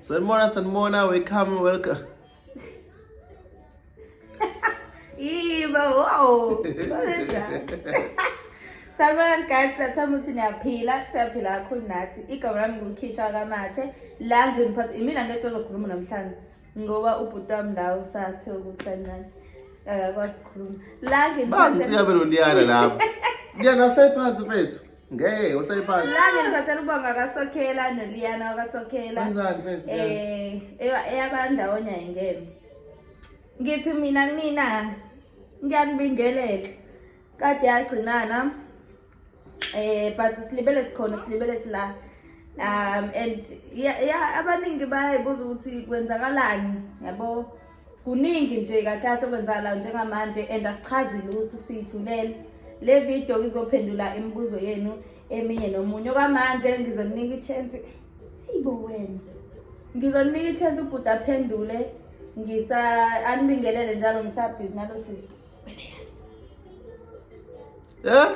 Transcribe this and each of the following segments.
Sanmona, Sanmona, welcome, welcome. Ih, bawo. Salman guys siyathanda ukuthi niyaphila siyaphila kakhulu nathi igama lami ngukhisha kamathe la nginiphatha imina ngeke ozokhuluma namhlanje ngoba ubhuti wami ndawo usathe ukuthi kancane akakwazi ukukhuluma la nginiphatha Bangicika beloliyana lapho. Liyana hlale phansi mfethu. Ngeke uhlale phansi. Lana ngithathela ubonga kaSokhela noLiyana wakaSokhela. Wenzani mfethu? Eh, eya- eyabandawonye ayingene. Ngithi mina kunina ngiyanibingelela. Kade yagcinana. Eh, but silibele sikhona, silibele sila. Um and ya, ya abaningi bayayibuza ukuthi kwenzakalani, yabo? kuningi nje kahle kahle okwenzakalayo njengamanje and asichazi lutho siyithulele le video izophendula imibuzo yenu eminye nomunye okwamanje ngizoninika ichance ayibo wena ngizoninika ichance ubhuti aphendule ngisa anibingelele njalo ngisabhizi nalo sisi Eh?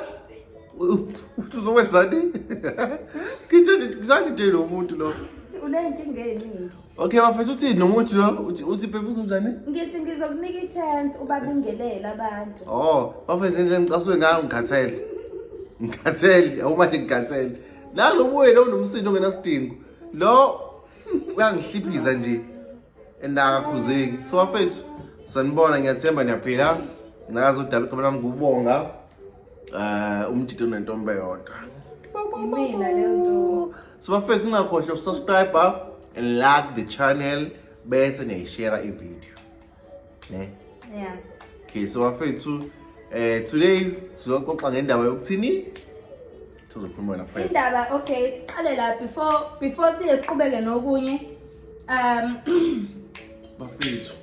Uthi uzokwenzani? Ngithe ngizange nje lo muntu lo. Unenkinga eningi. Okay bafethu uthi nomuntu lo uthi uthi baby uzonjani? Ngithi ngizokunika i-chance ubabingelela abantu. Oh, bafethu nje ngicasuke ngayo ngikhathele. Ngikhathele, awumanje ngikhathele. Nalo buye lo nomsindo ongenasidingo. Lo uyangihliphiza nje. endakakhuzeki so bafethu sanibona ngiyathemba niyaphila nazo udaba igama lami ngubonga um eh, umdidi onentombe yodwa imina le nto so bafethu ningakhohlwa ukusubscribe and like the channel bese niyayishera ivideo ne yeah okay so bafethu eh today sizoxoxa ngendaba yokuthini sizokhuluma wena kuphela indaba okay siqale la before before siye siqhubeke nokunye um bafethu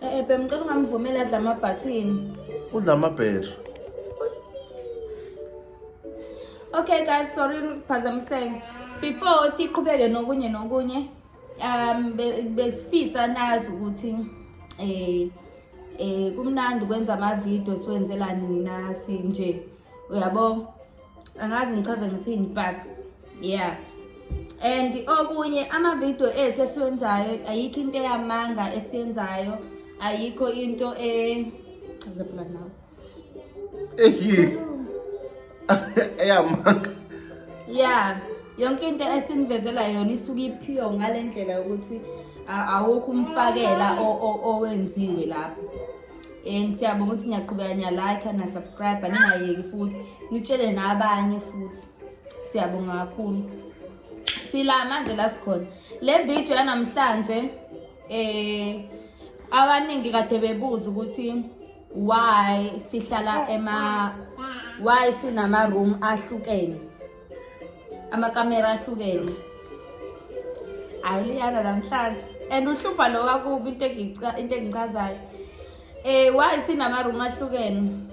eh, eh bemcela ungamvumela adla ama button udla ama battery Okay guys, sorry ngiphazamiseke. Before siqhubeke nokunye nokunye um besifisa nazi ukuthi eh eh kumnandi ukwenza ama-video siwenzela nina sinje uyabo angazi ngichaze ngithini but yeah and okunye ama-video ethu esiwenzayo ayikho into eyamanga esiyenzayo ayikho into e Eyi. Eyamanga. Yeah. Yonke into esinivezela yona isuke iphiyo ngale ndlela yokuthi a- awukho umfakela o- o- owenziwe lapho. And siyabonga ukuthi ngiyaqhubeka ngiyalike na subscribe ningayeki futhi nitshele nabanye futhi. Siyabonga kakhulu. Sila manje la sikhona. Le video yanamhlanje eh abaningi kade bebuza ukuthi why sihlala ema why sinama room ahlukene amakamera ahlukene awuliyana namhlanje and uhlupha lo wakubi into into engichazayo eh why sinama room ahlukene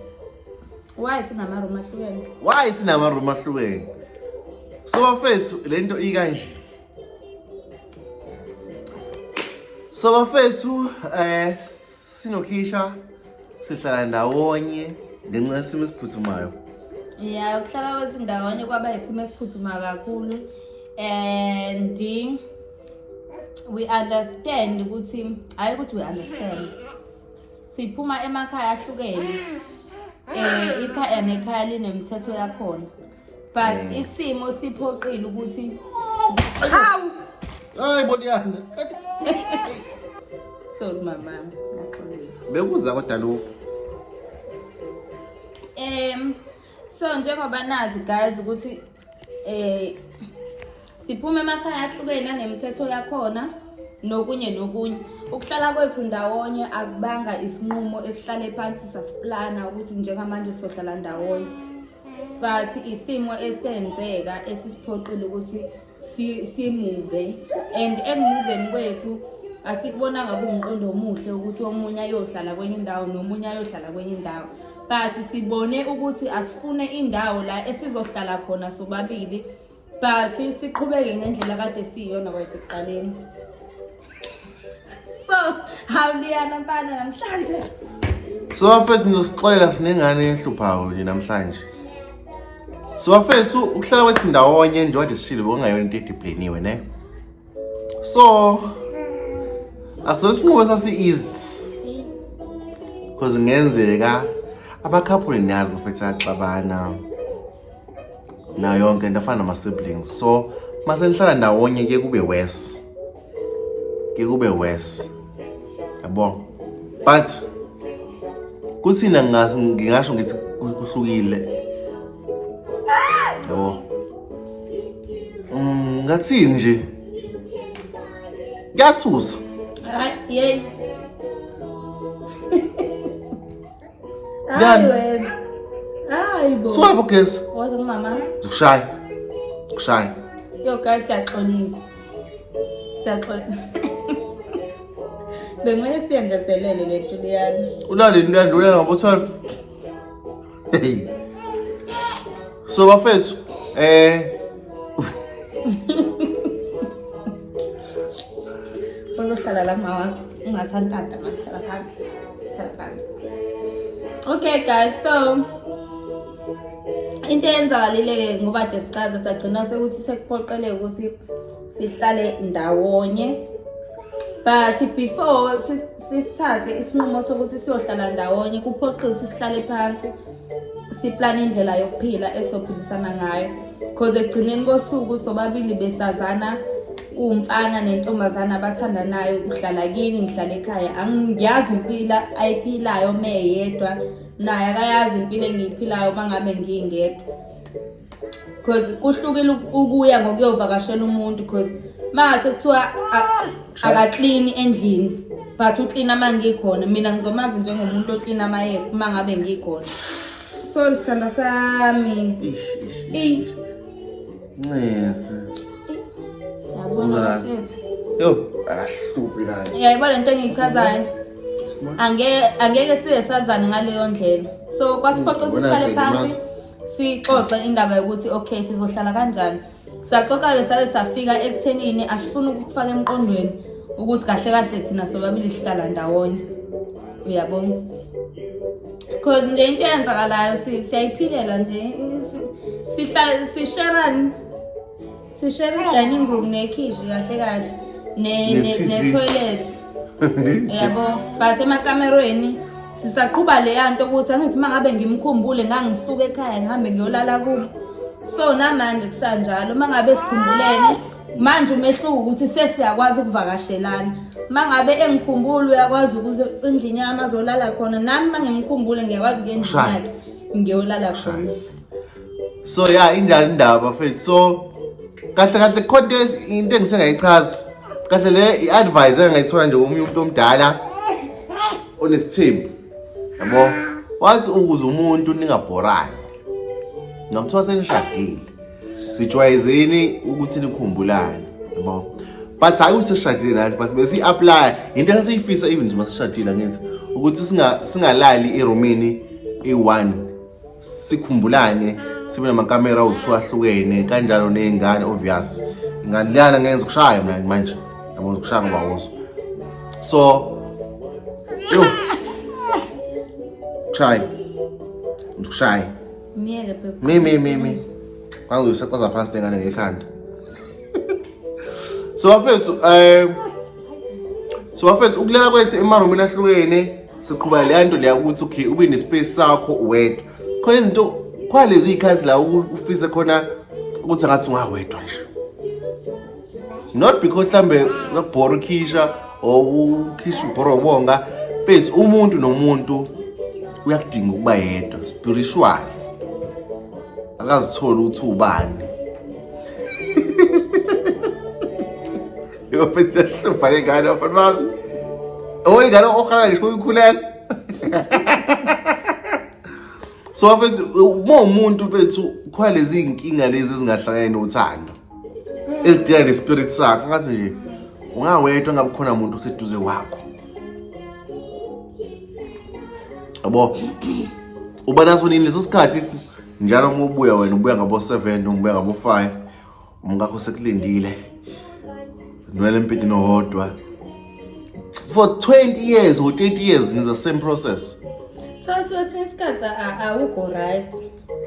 why sinama room ahlukene why sinama room ahlukene so bafethu lento ikanje So bafethu eh sinokhisha sihlala ndawonye ngenxa yesimo esiphuthumayo. Yeah, ukuhlala kwethu ndawonye kwaba isimo esiphuthumayo kakhulu and we understand ukuthi hayi ukuthi we understand siphuma emakhaya ahlukene eh ikhaya nekhaya linemithetho yakhona but mm. isimo siphoqile ukuthi hawu hayi boniyanda sorry mama ngaxolisa bekuza kodwa lokhu em so njengoba nazi guys ukuthi eh Siphuma emakhaya ahlukene anemithetho yakhona nokunye nokunye. Ukuhlala kwethu ndawonye akubanga isinqumo esihlale phansi sasiplana ukuthi njengamanje sizohlala ndawonye. But isimo esenzeka esisiphoqile ukuthi simuve and engimuveni kwethu asikubonanga kuwumqondo omuhle ukuthi omunye ayohlala kwenye indawo nomunye ayohlala kwenye indawo but sibone ukuthi asifune indawo la esizohlala khona sobabili but siqhubeke ngendlela kade siyiyona kwasekuqaleni so hawuliyana mfana namhlanje so bafethu ngizosixolela sinengane ehluphayo nje namhlanje so bafethu ukuhlala kwethu ndawonye nje wade sishile bokungayona into edipleniwe ne so akusona isinqubo sasi-easy because ngenzeka abakhaphule niyazi bafethu axabana nayo yonke into afana nama-siblings so mase nihlala ndawonye ke kube worse ke kube worse yabo but kuthina ngingasho ngithi kuhlukile yabo mm, ngathini nje kuyathusa yey siwaphi ugesi zikushaya kushaya yo guys siyaxolisa siyaxolisa bekumele siyenzeselele le nto liyana ulalini luyanda uya ngabo-twelve so bafethu um eh, uzohlala la mawa ungasantanta manje hlala phansi hlala phansi okay guys so into eyenzakalile-ke ngoba de sicaze sagcina sekuthi sekuphoqeleka ukuthi sihlale ndawonye but before sisithathe isinqumo sokuthi siyohlala ndawonye kuphoqile ukuthi sihlale phansi siplane indlela yokuphila esizophilisana ngayo because ekugcineni kosuku sobabili besazana kuwumfana nentombazana abathandanayo uhlala kini ngihlala ekhaya angiyazi impilo ayiphilayo meyedwa naye akayazi impilo engiyiphilayo uma ngabe ngingedwa because kuhlukile ukuya ngokuyovakashela umuntu because mase kuthiwa akaklini endlini but uklina uma ngikhona mina ngizomazi njengomuntu oklina amayeka uma ngabe ngikhona sorry sithanda sami ncese yo akahluphi naye yayibona lento engiyichazayo angeke siye sazane ngaleyo ndlela so kwasiphoqa ukuthi sihlale phansi sixoxe indaba yokuthi okay sizohlala kanjani saxoxa-ke sabe safika ekuthenini asifuni ukufaka emqondweni ukuthi kahle kahle thina sobabili sihlala ndawonye uyabona because nje into eyenzakalayo siyayiphilela nje sisherani Sishare i-dining room nekhishi kahle kahle ne- ne- Ne-TV. ne-toilet. Yabo, but emakamerweni sisaqhuba leya nto ukuthi angithi uma ngabe ngimkhumbule ngangisuka ekhaya ngihambe ngiyolala kubo. So namanje kusanjalo uma ngabe sikhumbulene manje umehluko ukuthi sesiyakwazi ukuvakashelana. Uma ngabe engikhumbula uyakwazi ukuze endlini yami azolala khona nami uma ngimkhumbule ngiyakwazi ukuya endlini Shaya. yakhe ngiyolala khona. so ya injani indaba fethu so kahle kahle khona into engisengayichaza kahle le i-advise engayithola nje komunye umuntu omdala onesithembu yabo wathi ukuze umuntu ningabhorani ngamthiwa senishadile sijwayezeni ukuthi nikhumbulane yabo but hayi useshadile nathi but bese i-apply yinto esasiyifisa even nje masishadile angenzi ukuthi singalali erumini eyi-one sikhumbulane sibe namakamera awu-two ahlukene kanjalo ney'ngane obvious ingane liyana ngenza ukushaya mina manje yabo ukushaya ngoba wozo so yo kushaye ndikushaye myeke mi mi mi mi kwangizoyisacaza phansi lengane ngekhanda so bafethu um so bafethu ukulala kwethu emarumini ahlukene siqhuba leya nto leya ukuthi okay ube nespace sakho wedwa khona izinto khona lezi y'khathi la ufise khona ukuthi angathi ungawedwa nje not because mhlambe nakubhora ukhisha or ukhisha ubhora ubonga mfethu umuntu nomuntu uyakudinga ukuba yedwa spiritual akazitholi ukuthi ubani Kapit sa sumpalay ka na, palmang. Oo, oh, gano'n ko ka lang. Ikaw yung kulang. so bafethu uma umuntu bethu khona lezi iy'nkinga lezi ezingahlangani nothando ezidinga ne-spirit sakho ngathi nje ungawedwa ngabe khona muntu oseduze wakho yabo uba naso nini leso sikhathi njalo uma ubuya wena ubuya ngabo-seven noma ubuya ngabo-five umkakho sekulindile nwele mpiti nohodwa for 20 years or 30 years in the same process thatha kwesinye isikhathi awukho right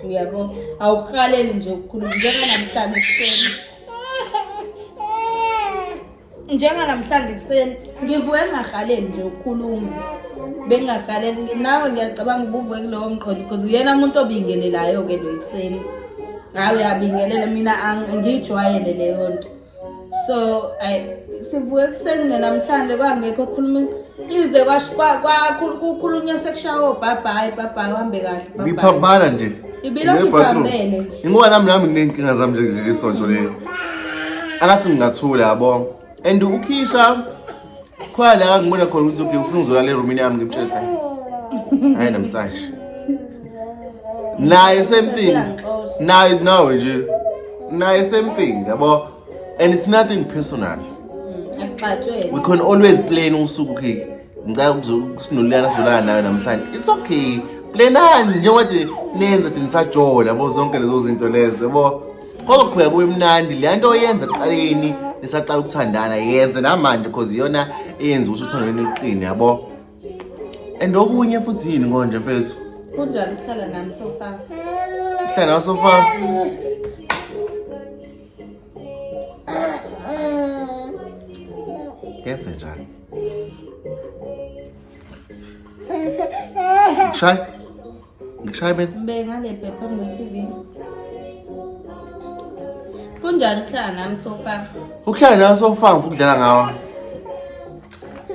uyabo awuhaleli nje ukukhuluma njenganamhlanje kuseni njenganamhlanje ekuseni ngivuke ngingahaleli nje ukukhuluma bengingahaleli nawe ngiyacabanga ubuvuke kulowo mqondo because uyena muntu obingelelayo-ke lo ekuseni hayi uyabingelela mina ngiyijwayele leyo nto so sivuke ekuseni nenamhlanje kwangekho okhuluma Ize kukhulunywa sekushaya obhabhayi bhabhayi uhambe kahle bhabhayi. Ngiphambana nje. Ibilokhu iphambene. Ingoba nami nami nginenkinga zami nje kuleli sonto leli. Angathi ngingathula yabo. And ukhisha khona la ngibona khona ukuthi okay ufuna uzolala eroomini yami ngimthethe. Hayi namhlanje. Naye same thing. Naye nawe nje. Naye same thing yabo. and it's nothing personal mm, akuxatshwe we can always plan usuku okay ngicela ukusinolulana solana nayo namhlanje it's okay planani njengoba de nenza de nisajola bo zonke lezo zinto lezo yabo kozoqhubeka kube mnandi le nto oyenza eqaleni nisaqala ukuthandana yenze namanje because iyona eyenza ukuthi uthando lwenu luqine yabo and okunye futhi yini konje mfethu kunjani ukuhlala nami sofa uhlala nawe sofa Yenze njalo. Ngikushaya? Ngikushaya mina? Ngibeke ngale bhebhe phambi kwe-TV. Kunjani ukuhlala nami sofa? Ukuhlala nawe sofa ngifuna ukudlala ngawe.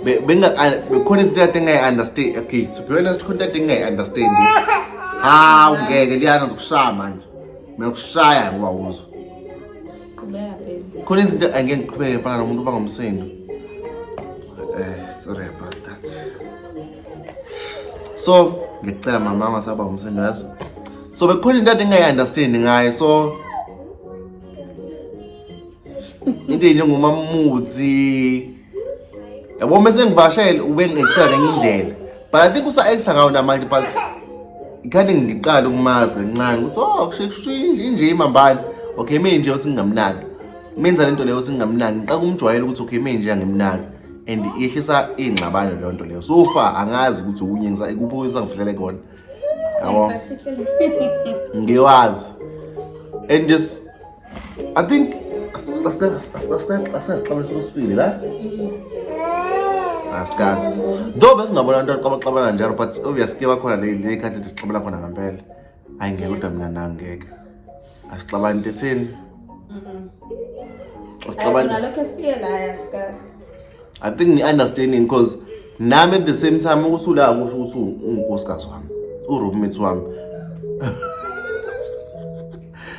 Be- benga- a- bekhona izinto kade engayi-understand okay to be honest khona kade engayi-understand hawu ngeke liyana zokushaya manje nokushaya ngoba uzwa Qhubeka baby. khona izinto angeke ngiqhubeke mfana nomuntu uba ngomsindo eh sorry about that so ngicela mama angasaba ngomsindo yazi so bekhona into kade engayi-understand ngayo so into enjengomamuthi yabo uma sengivashele ube ngexela ngenye indlela but i think usa-acta ngawo namanje but ikhande ngiqale ukumazi kancane ukuthi o oh, kushinje imambane okay me nje osingamnaki menza le nto leyo osingamnaki ngiqaka umjwayela ukuthi okay me nje angimnaki and yehlisa iy'ngxabano leyo nto leyo so far angazi ukuthi okunye kuphi okwenza ngifihlele kona yabo ngiwazi and just I think asikaxabana sosifile la asikazi though besingabona abantu abaxabana njalo but obvious ke bakhona leyikhathi ethi sixabela khona ngampela ayi ngeke kodwa mina nangeke asixabani into etheni i think ni-understanding because nami at the same time ukuthi ula kusho ukuthi ungukosikazi wami uroommate wami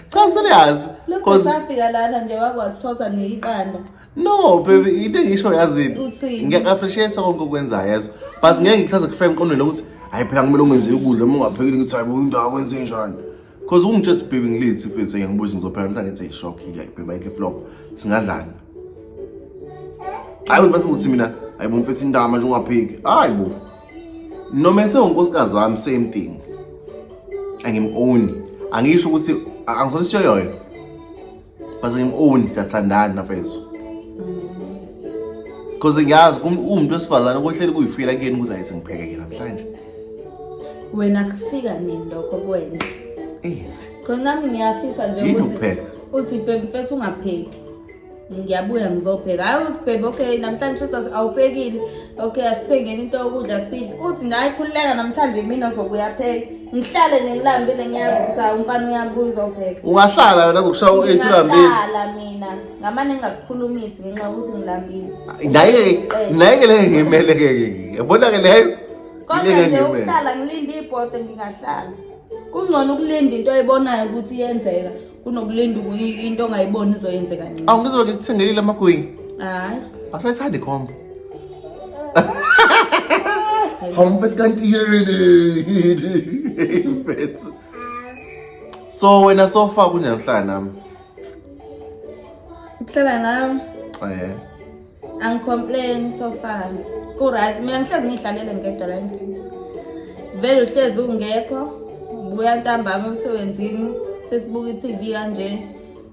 cha serious cause safika lana nje wakwathosa neyiqanda no baby into engisho yazini Uthini? ngiyaku-appreciate konke okwenzayo yazo but ngeke ngikuhlaze kufe emqondweni lokuthi hayi phela kumele ungenze ukudla uma ungaphekile ngithi hayi into akwenze njani cause ungitshesi baby ngilithi futhi ngiyangibuza ngizophela mntu angithi shock like baby ayike flop singadlani hayi ukuthi bese ukuthi mina hayi bo mfethu intama nje ungaphiki hayi bo noma esewunkosikazi wami same thing angimowni angisho ukuthi angisona isiyoyoyo but angimowni siyathandana nafethu because ngiyazi umuntu wesifazane kohleli kuyifila kuyena ukuthi ayithi ngiphekeke namhlanje wena kufika nini lokho kwena eh. khona nami ngiyafisa nje ukuthi uthi bebe mfethu ungapheki ngiyabuya ngizobheka hayi uthi bhebe okay namhlanje uthi awuphekile okay asithengeni into yokudla sidle uthi naye khululeka namhlanje mina ozobuya pheka ngihlale nengilambile ngiyazi ukuthi hayi umfana uyabuya uzopheka ungahlala wena kukushawa u-eight ulambile ngihlala mina ngamane ngingakukhulumisi ngenxa yokuthi ngilambile naye-ke leyo ngimele-ke yabona-ke leyo kodwa nje ukuhlala ngilinde ibhode ngingahlala kungcono ukulinda into oyibonayo ukuthi iyenzeka kunokulinda ukuyi- into ongayiboni izoyenzeka nini awu ngizobe ngikuthengelile amagwinya hayi awusayithandi ikhombo hawu mfethu kanti yini mfethu so wena sofa kunjani ukuhlala nami ukuhlala nami um angicomplain so far kuright mina ngihlezi ngiyihlalele ngedwa la endlini vele uhlezi ungekho buya ntambama emsebenzini sesibuka i-tv kanje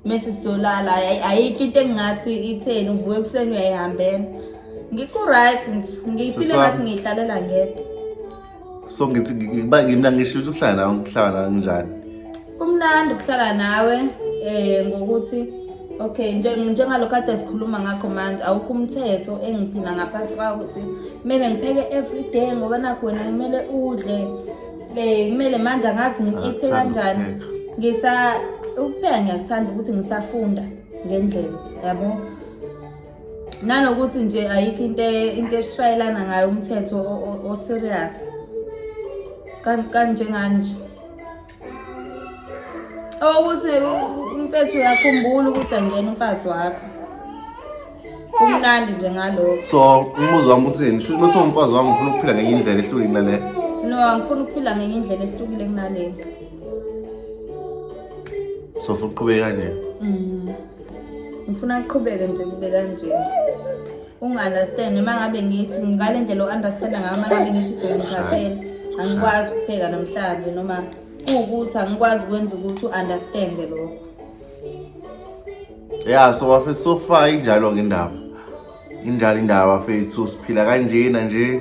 mese siyolala ayikho into engingathi itheni uvuke ekuseni uyayihambela ngikuright nje ngiyiphile ngathi ngiyihlalela ngedwa so ngithi ngiba ngimna ngisho ukuthi ukuhlala nawe ngihlala nawe kunjani kumnandi ukuhlala nawe eh ngokuthi okay njengalokho ade sikhuluma ngakho manje awukho umthetho engiphila ngaphansi kwawo ukuthi kumele ngipheke every day ngoba nakho wena kumele udle um kumele manje angazi ngi-ekthe kanjani ngisa ukupheka ngiyakuthanda ukuthi ngisafunda ngendlela yabo nanokuthi nje ayikho into e, into eshayelana ngayo umthetho oserious kanjengani nje owokuthi umfethu uyakhumbula ukuthi angena umfazi wakho kumnandi nje ngalokho so umbuzo wami uthini shuthi uma sewumfazi wami ngifuna ukuphila ngenye indlela ehlukile kunale no angifuni ukuphila ngenye indlela ehlukile kunale so futhi uqhubeke kanje mm. ngifuna aqhubeke nje kube kanje unga-understand uma ngabe ngithi ngale ndlela u-understanda ngayo uma ngabe ngithi bengikhathele angikwazi ukupheka namhlanje noma kuwukuthi angikwazi kwenza ukuthi u-understande lokho ya so wafisa ukufa injalo-ke indaba Injalo indaba fethu siphila kanjena nje.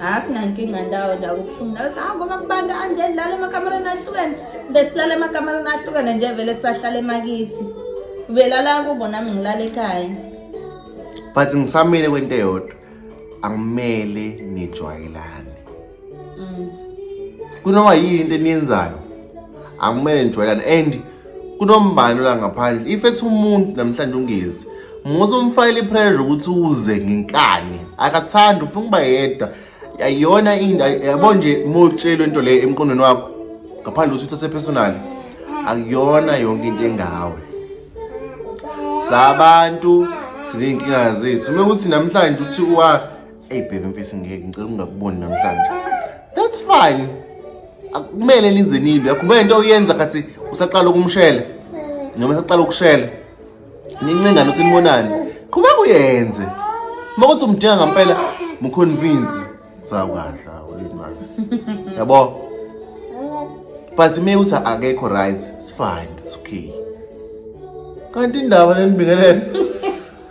Asinankinga ndawo nje akubuhlungu nawe ukuthi hamba makubanda anje lala emakamereni ahlukene besilala emakamereni ahlukene nje vele sisahlala emakithi velala kubo nami ngilala ekhaya but ngisamile kwento eyodwa angimele nijwayelane mm. kunoma yini into eniyenzayo akumele nijwayelane and kunombani la ngaphandle if ethi umuntu namhlanje ungezi muze umfakele ipressure ukuthi uze ngenkani akathandi ufuna ukuba yedwa ayiyona into yabo nje motshelwe into leyo emqondweni wakho ngaphandle ukuthi uthathe personal akuyona yonke into engawe sabantu siney'nkinga zethu uma ukuthi namhlanje uthi uwa Hey baby mfisi ngeke ngicela ungakuboni namhlanje. That's fine. Akumele lize nilwe. Akumele into oyenza kathi usaqala ukumshela. Noma usaqala ukushela. Nincinga nothi nibonani. Qhubeka uyenze. Uma kuthi umdinga ngempela muconvince sawukadla ulimali. Yabo? But me uthi akekho right. It's fine. It's okay. Kanti indaba lenibingelele.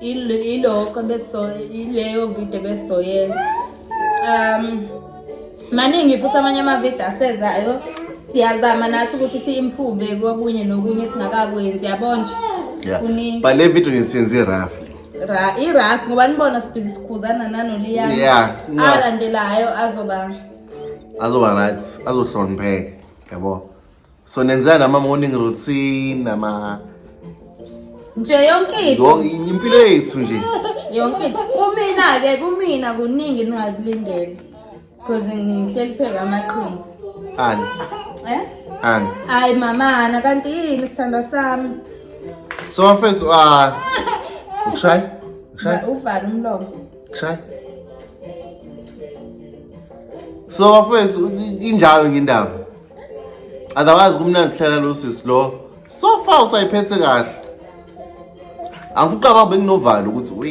ilokho ileyo video besoyenza um maningi futhi amanye amavidiyo asezayo siyazama nathi ukuthi si-improve kokunye nokunye singakakwenzi yabona nje but le video ngisiyenze i-rough ra i-rough ngoba nibona sibhizi sikhuzana nanoliyana yeah, no. alandelayo azoba azoba right azohlonipheka yabo so nenzela nama morning routine nama nje yonke into yonke impilo yethu nje yonke into kumina ke kumina kuningi ningakulindele because ngihleli pheka amaqhinga ani eh ani hayi mama ana kanti yini sithandwa sami so mfethu ah ukushay ukushay uvala umlomo ukushay so mfethu injalo ngindaba otherwise kumnandi kuhlala lo sisi lo so far usayiphethe kahle angifuqaba benginovalo ukuthi we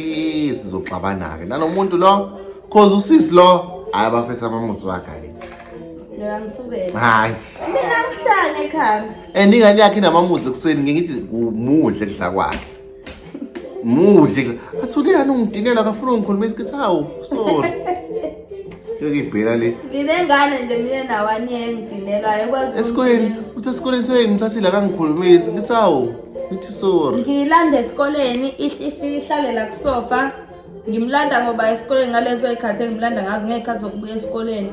sizoxabana-ke nalo muntu lo cause usisi lo hhayi abafetha amamuthi wakhe Mina ngisukele. Hayi. Mina ngihlale ekhaya. And ingane yakhe inamamuzi ekuseni ngithi umuhle kudla kwakhe. Muhle. Athule yani ungidinela akafuna ungikhulumisa ukuthi hawu sorry. Yokibhela le. Nginengane nje mina nawani engidinelwa ayikwazi. Esikoleni uthi esikoleni soyengithathile akangikhulumisi ngithi hawu ngithi sorry. Ngilande esikoleni ifike ihlalela kusofa. ngimlanda ngoba esikoleni ngalezo y'khathi engimlanda ngazo ngey'khathi zokubuya esikoleni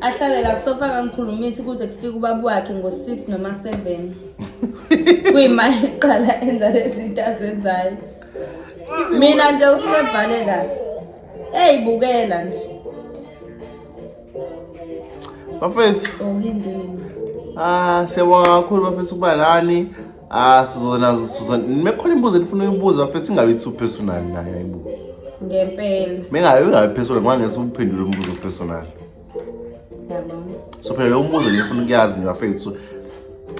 ahlale la kusofa ngangikhulumisi kuze kufike ubaba wakhe ngo-six noma seven kuyimali eqala enza lezinto azenzayo mina nje usukevalela eyi bukela nje bafethu okindini ah siyabonga kakhulu bafethu ukuba lani Ah sizona sizona mekhona imbuzo elifuna uyibuza futhi singabe two personal naye ayibuza. Ngempela. Mengabe ungabe personal ngoba ngeke uphendule umbuzo personal. Yabona. So phela lo mbuzo ngifuna ukuyazi ngafethu.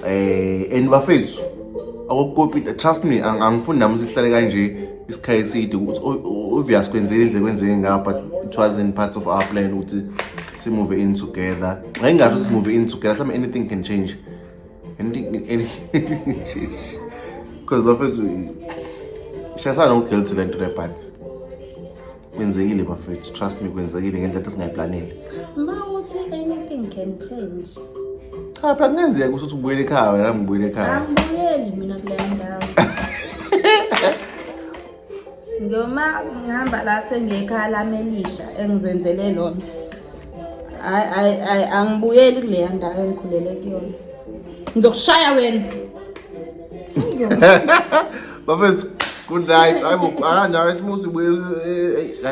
Eh and bafethu akukopi trust me angifuni nami sihlale kanje isikhaye side ukuthi obvious kwenzeke indle kwenzeke nga but it was in parts of our plan ukuthi si move in together ngayingasho si move in together some anything can change because bafethu shayisana uguilty le nto lebut kwenzekile bafethu trust me kwenzekile ngendlela ethi singayiplanile ma uthi anything can change cha phela kungenzeka ukuthi uthi ubuyele ekhaya wena ngibuyele ekhaya angibuyeli mina kule ndawo Ngiyoma ngihamba la sengiyekhaya lami elisha engizenzele lona. Hayi hayi hayi angibuyeli kuleya ndawo engikhulele kuyona. Ngizokushaya wena. Bafethu good night. Hayibo akanje akathi musi buye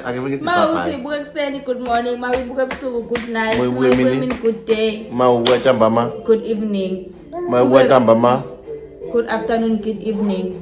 ake ngithi bye. Mawuthi uyibuke ekuseni good morning, mawuyibuke ebusuku good night, mawuyibuke emini good day. Mawubuke ntambama good evening. Mawubuke ntambama good afternoon good evening.